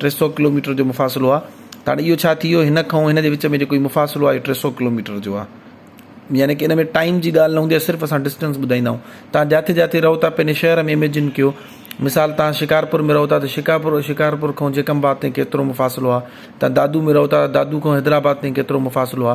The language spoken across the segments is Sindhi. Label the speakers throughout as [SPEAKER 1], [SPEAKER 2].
[SPEAKER 1] ٽي سؤ ڪلوميٽر جو مفاصلو آ تاڻي اهو ڇا ٿي ويو هن کان هن جي وچ ۾ جيڪو هي مفاصلو آهي ٽي سؤ ڪلوميٽر جو آ يعني ڪي ان ۾ ٽائيم جي ڳالهه نه هوندي آ صرف اسان ڊسٽنس ٻڌائيندا آهون تان جاٿي جاٿي رهو ٿا پنهنجي شهر ۾ اميجن ڪيو مثال تان شڪارپور ۾ رهو ٿا ته شڪارپور شڪارپور کان جيڪم آباد تائين ڪيترو مفاصلو آ تان دادو ۾ رهو ٿا دادو کان حيدرآباد تائين ڪيترو مفاصلو آ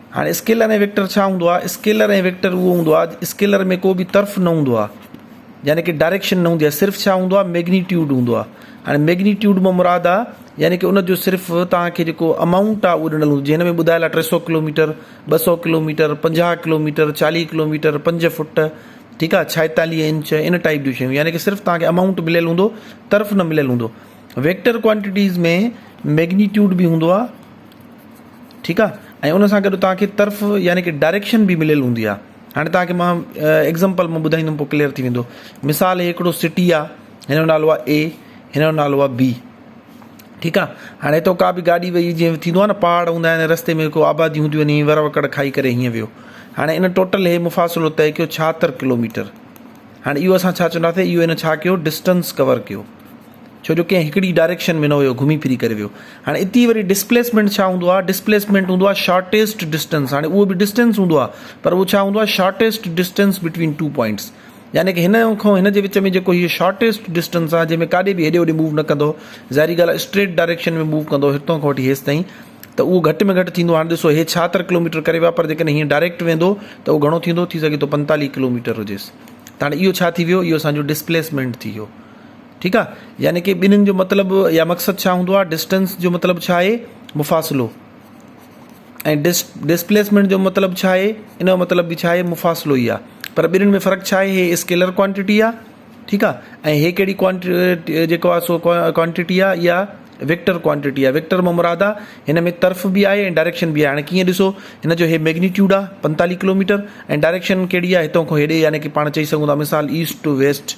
[SPEAKER 1] هاڻي اسڪيلر ۽ ويڪٽر ڇا هوندو آهي؟ اسڪيلر ۽ ويڪٽر اهو هوندو آهي اسڪيلر ۾ ڪو به طرف نه هوندو آهي يعني ڪي ڊائريڪشن نه هوندي آهي صرف ڇا هوندو آهي ميگنيٽيوڊ هوندو آهي هاڻي ميگنيٽيوڊ مان مراد آهي يعني ڪي ان جو صرف توهان کي جيڪو امائونٽ آهي اهو ڏنل هوندو جنهن ۾ ٻڌايل آهي ٽي سو ڪلوميٽر ٻه سو ڪلوميٽر پنجاهه ڪلوميٽر چاليهه ڪلوميٽر پنج فوٽ ٺيڪ آهي ڇائيتاليهه انچ ان ٽائپ جون شيون يعني ڪي صرف توهان کي امائونٽ مليل هوندو طرف نه مليل هوندو ويڪٽر ڪوانٽيٽيز ۾ ميگنيٽيوڊ به هوندو آهي ٺيڪ آ ۽ ان سان گڏ توهان کي طرف يعني ڪه ڊائريڪشن به مليل هوندي آ هاڻي توهان کي مان ايگزامپل مان ٻڌائيندم پو ڪليئر ٿي ويندو مثال هي هڪڙو سٽي آ هن جو نالو آ اي هن جو نالو آ بي ٺيڪ آ هاڻي هتو ڪا به گاڏي وئي جيئن ٿيندو آ نه پهاڙ هوندا آهن رستي ۾ ڪو آبادي هوندي وڃي ور وڪڙ کائي ڪري هيئن ويو هاڻي ان ٽوٽل هي مفاصلو طئي ڪيو ڇاهتر ڪلوميٽر هاڻي اهو اسان ڇا چونداسي اهو هن ڇا ڪيو ڊسٽنس ڪور ڪيو ڇو جو ڪنهن هڪڙي ڊائريڪشن ۾ نه ويو گهمي ڦري ڪري ويو هاڻي اتي وري ڊسپليسمينٽ ڇا هوندو آهي ڊسپليسمينٽ هوندو آهي شارٽيسٽ ڊسٽينس هاڻي اهو به ڊسٽينس هوندو آهي پر اهو ڇا هوندو آهي shortest distance between two points يعني ڪه هن کان هن جي وچ ۾ جيڪو هي شارٽيسٽ ڊسٽينس آهي جنهن ۾ ڪاڏي به هيڏي هوڏي موو نه ڪندو ظاهري ڳالهه آهي اسٽريٽ ڊائريڪشن ۾ موو ڪندو هتان کان وٺي هيس تائين ته اهو گهٽ ۾ گهٽ ٿيندو هاڻي ڏسو هي ڇاهتر ڪلوميٽر ڪري ويا پر جيڪڏهن هيئن ڊائريڪٽ ويندو ته اهو گهڻو ٿيندو ٿي سگهي ٿو پنتاليهه ڪلوميٽر هجيس ته هاڻي اهو ڇا ٿي ويو اهو اسانجو ڊسپليسمينٽ ٿي ويو ٺيڪ آ يعني ڪي ٻنهن جو مطلب يا مقصد ڇا هوندو آ ڊسٽنس جو مطلب ڇا آهي مفاصلو ۽ ڊس ڊسپليسمينٽ جو مطلب ڇا آهي ان جو مطلب به ڇا آهي مفاصلو ئي آ پر ٻنهن ۾ فرق ڇا آهي هي اسڪيلر ڪوانٽيٽي آ ٺيڪ آ ۽ هي ڪهڙي ڪوانٽي جيڪو آ سو ڪوانٽيٽي آ يا ويڪٽر ڪوانٽيٽي آ ويڪٽر مون مراد آ هن ۾ طرف به آهي ۽ ڊائريڪشن به آهي هاڻي ڪيئن ڏسو هن جو هي ميگنيٽيوڊ آ پنتاليهه ڪلوميٽر ۽ ڊائريڪشن ڪهڙي آ هتو کان هيڏي يعني ڪي پاڻ چئي سگهون ٿا مثال ايسٽ ٽو ويسٽ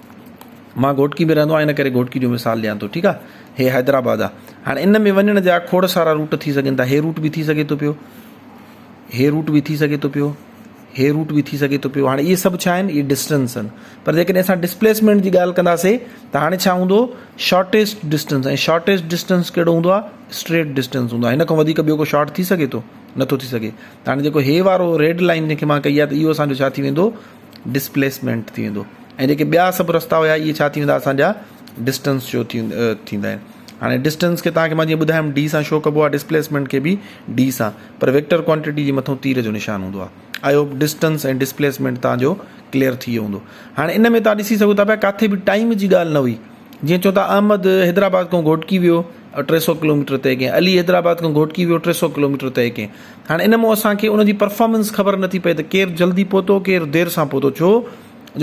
[SPEAKER 1] مان گهوٽڪي ۾ رهندو آهيان ان ڪري گهوٽڪي جو مثال ڏيان ٿو ٺيڪ آ هي حيدرآباد آ هاڻي ان ۾ وڃڻ جا کوڙ سارا روٽ ٿي سگهن ٿا هي روٽ به ٿي سگهي ٿو پيو هي روٽ به ٿي سگهي ٿو پيو هي روٽ به ٿي سگهي ٿو پيو هاڻي اهي سڀ ڇا آهن اهي ڊسٽنس آهن پر جيڪڏهن اسان ڊسپليسمينٽ جي ڳالهه ڪنداسي ته هاڻي ڇا هوندو شارٽيسٽ ڊسٽنس ۽ شارٽيسٽ ڊسٽنس کهڙو هوندو آهي اسٽريٽ ڊسٽنس هوندو آهي هن کان وڌيڪ ٻيو ڪو شارٽ ٿي سگهي ٿو نٿو ٿي سگهي هاڻي جيڪو هي وارو ريڊ لائن جنهن کي مان ڪئي آهي ته اهو اسانجو ڇا ٿي ويندو ڊسپليسمينٽ ٿي ويندو ۽ جيڪي ٻيا سڀ رستا هيا اهي ڇا ٿي ويندا اسان جا ڊسٽنس شو ٿي ٿيندا آهن هاڻي ڊسٽنس کي تاکي مان جيئن ٻڌايم ڊي سان شو ڪبو آهي ڊسپليسمينٽ کي به ڊي سان پر ويڪٽر ڪوانٽيٽي جي مٿو تير جو نشان هوندو آهي آئي هوپ ڊسٽنس ۽ ڊسپليسمينٽ تان جو ڪليئر ٿي ويو هوندو هاڻي ان ۾ تان ڏسي سگهو ٿا پيا ڪاٿي به ٽائيم جي ڳالهه نه هئي جيئن چون ٿا احمد حيدرآباد کان گهوٽڪي ويو ٽي سؤ ڪلوميٽر طئي ڪيائين علي حيدرآباد کان گهوٽڪي ويو ٽي سؤ ڪلوميٽر طئي ڪيائين هاڻي ان مون اسان کي ان جي پرفارمنس خبر نٿي پئي ته ڪير جلدي پهتو ڪير دير سان پهتو ڇو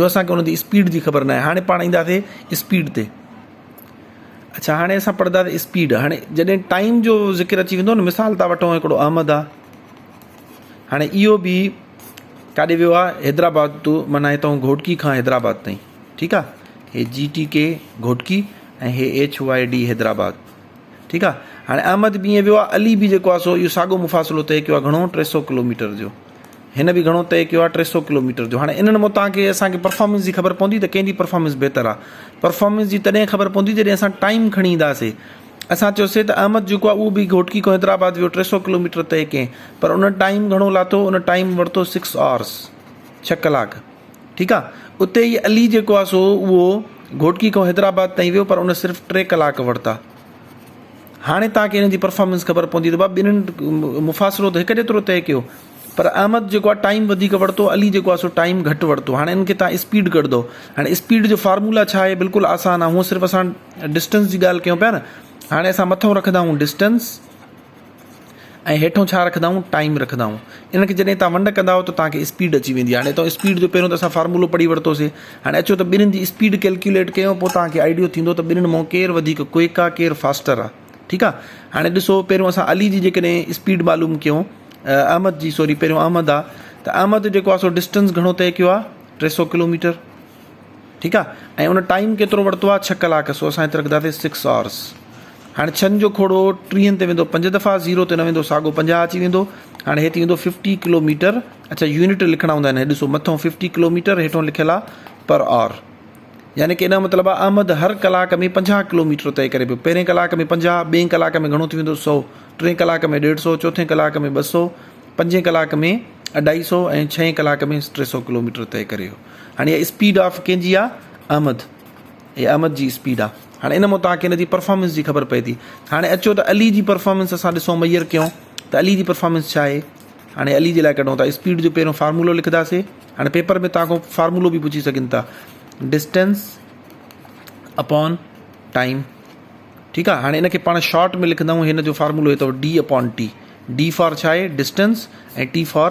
[SPEAKER 1] جو اسانکي ان جي اسپيڊ جي خبر ناهي هاڻي پاڻ اينداسي اسپيڊ تي اچھا هاڻي اسان پڙهنداسي اسپيڊ هاڻي جڏهن ٽائيم جو ذڪر اچي ويندو نه مثال تھا وٺو هڪڙو احمد آ هاڻي اهو به ڪاڏي ويو آ حيدرآباد تو معنيٰ هتان گهوٽڪي کان حيدرآباد تائين ٺيڪ آ هي جي ٽي ڪي گهوٽڪي ۽ هي ايڇ واء ڊي حيدرآباد ٺيڪ آ هاڻي احمد بي ائين ويو آ علي بي جيڪو آ سو اهو ساڳو مفاصلو طئي ڪيو آ گهڻو ٽي سؤ ڪلوميٽر جو هن به گهڻو طئي ڪيو آ ٽي سؤ ڪلوميٽر جو هاڻي انهن مون توهان کي اسان کي پرفارمنس جي خبر پوندي ته ڪنهن جي پرفارمنس بهتر آ پرفارمنس جي تڏهن خبر پوندي جڏهن اسان ٽائيم کڻي اينداسي اسان چيوسي ته احمد جيڪو آ اهو به گهوٽڪي کان حيدرآباد ويو ٽي سؤ ڪلوميٽر طئي ڪئين پر ان ٽائيم گهڻو لاٿو ان ٽائيم ورتو سڪس آورس ڇهه ڪلاڪ ٺيڪ آ اتي هي علي جيڪو آ سو اهو گهوٽڪي کان حيدرآباد تائين ويو پر ان صرف ٽي ڪلاڪ ورتا هاڻي توهان کي ان جي پرفارمنس خبر پوندي ته بابا ٻنهن مفاصلو ته هڪ جيترو طئي ڪيو پر احمد جيڪو آ ٽائيم وڌيڪ ورتو علي جيڪو آ سو ٽائيم گهٽ ورتو هاڻي ان کي توهان اسپيڊ ڪڍندو هاڻي اسپيڊ جو فارمولا ڇا آهي بلڪل آسان آ هونء صرف اسان ڊسٽنس جي ڳالهه ڪيون پيا نه هاڻي اسان مٿو رکنداهون ڊسٽنس ۽ هيٺون ڇا رکندائون ٽائيم رکندائون ان کي جڏهن تان ونڊ ڪندائو ته تان کي اسپيڊ اچي ويندي هاڻي تو اسپيڊ جو پهريون ته اسان فارمولو پڙهي ورتوسي هاڻي اچو ته ٻنهين جي اسپيڊ ڪيلڪيوليٽ ڪيون پو تان کي آئيڊيو ٿيندو ته ٻنهين مون ڪير وڌيڪ ڪوئڪ آ ڪير فاسٽر آ ٺيڪ آ هاڻي ڏسو پهريون اسان علي جي جيڪڏهن اسپيڊ معلوم ڪيون احمد جي سوري پهريون احمد آ ته احمد جيڪو آ سو ڊسٽنس گهڻو طئي ڪيو آ ٽي سو ڪلوميٽر ٺيڪ آ ۽ ان ٽائيم ڪيترو ورتو آ ڇهه ڪلاڪ سو اسان هت رکداسي سڪس آورس هاڻي ڇهن جو کوڙو ٽيهن تي ويندو پنج دفعا زيرو تي نه ويندو ساڳو پنجاهه اچي ويندو هاڻي هي ٿي ويندو ففٽي ڪلو ميٽر اڇا يونٽ لکڻا هوندا آهن ڏسو مٿو ففٽي ڪلو ميٽر هيٺو لکيل آ پر آور يعني ڪي نه مطلب آ احمد هر ڪلاڪ ۾ پنجاهه ڪلو ميٽر طئي ڪري پيو پهرين ڪلاڪ ۾ پنجاهه ٻئين ڪلاڪ ۾ گهڻو ٿي ويندو سو ٽئين ڪلاڪ ۾ ڏيڍ سو چوٿين ڪلاڪ ۾ ٻه سو پنجين ڪلاڪ ۾ اڍائي سو ۽ ڇهين ڪلاڪ ۾ ٽي سو ڪلو ميٽر طئي ڪري هاڻي اها اسپيڊ آف ڪنهن جي آهي؟ احمد. هي احمد جي اسپيڊ آهي. هاڻي ان مون توهان کي ان جي پرفارمنس جي خبر پئي ٿي. هاڻي اچو ته علي جي پرفارمنس اسان ڏسون ميئر ڪيون ته علي جي پرفارمنس ڇا آهي. هاڻي علي جي لاء ڪڍون ٿا اسپيڊ جو پهريون فارمولو لکنداسي. هاڻي پيپر ۾ توهان کان فارمولو به پڇي سگهن ٿا. ڊسٽنس اپون ٽائيم ٺيڪ آهي. هاڻي ان کي پاڻ شارٽ ۾ لکندائون هن جو فارمولو اٿو D upon T. D for ڇا آهي؟ ڊسٽنس ۽ ٽي فار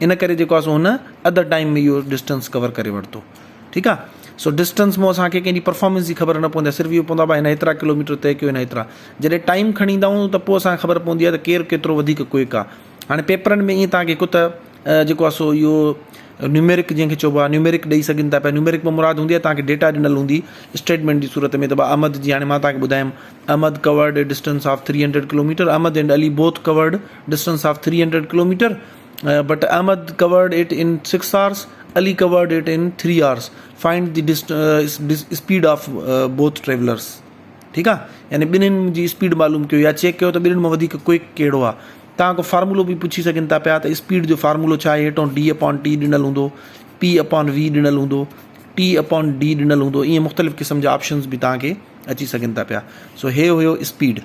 [SPEAKER 1] ان ڪري جيڪو آهي سو هن اڌ ٽائيم ۾ اهو ڊسٽنس ڪور ڪري ورتو ٺيڪ آهي سو ڊسٽنس مون اسان کي ڪنهن جي پرفارمنس جي خبر نه پوندي آهي صرف اهو پوندو آهي بھا هن هيترا ڪلو ميٽر طئي ڪيو هن هيترا جڏهن ٽائيم کڻي ايندا آهيون ته پوء اسان کي خبر پوندي آهي ته ڪير ڪيترو وڌيڪ ڪوئڪ آهي هاڻي پيپرن ۾ ائين تان کي ڪت جيڪو آهي سو اهو نيوميرڪ جنهن کي چئبو آهي نيوميرڪ ڏئي سگهن ٿا پيا نيوميرڪ مان مراد هوندي آهي تان کي ڊيٽا ڏنل هوندي اسٽيٽمينٽ جي صورت ۾ ته بھا احمد جي هاڻي مان تان کي ٻڌايم Ahmed covered distance of three hundred kilometre Ahmed and Ali both covered Distance of three hundred kilometer but Ahmed covered it in six hours, Ali covered it in three hours. Find the speed of both travellers. ٺيڪ آ يعني ٻنهن جي اسپيڊ معلوم ڪيو يا چيڪ ڪيو ته ٻنهن مان وڌيڪ ڪوئڪ ڪهڙو آ توهان کان فارمولو به پڇي سگهن ٿا پيا ته اسپيڊ جو فارمولو ڇا آهي هيٺون ڊي اپان ٽي ڏنل هوندو پي اپان وي ڏنل هوندو ٽي اپان ڊي ڏنل هوندو ائين مختلف قسم جا آپشنز به توهان کي اچي سگهن ٿا پيا سو هي هيو اسپيڊ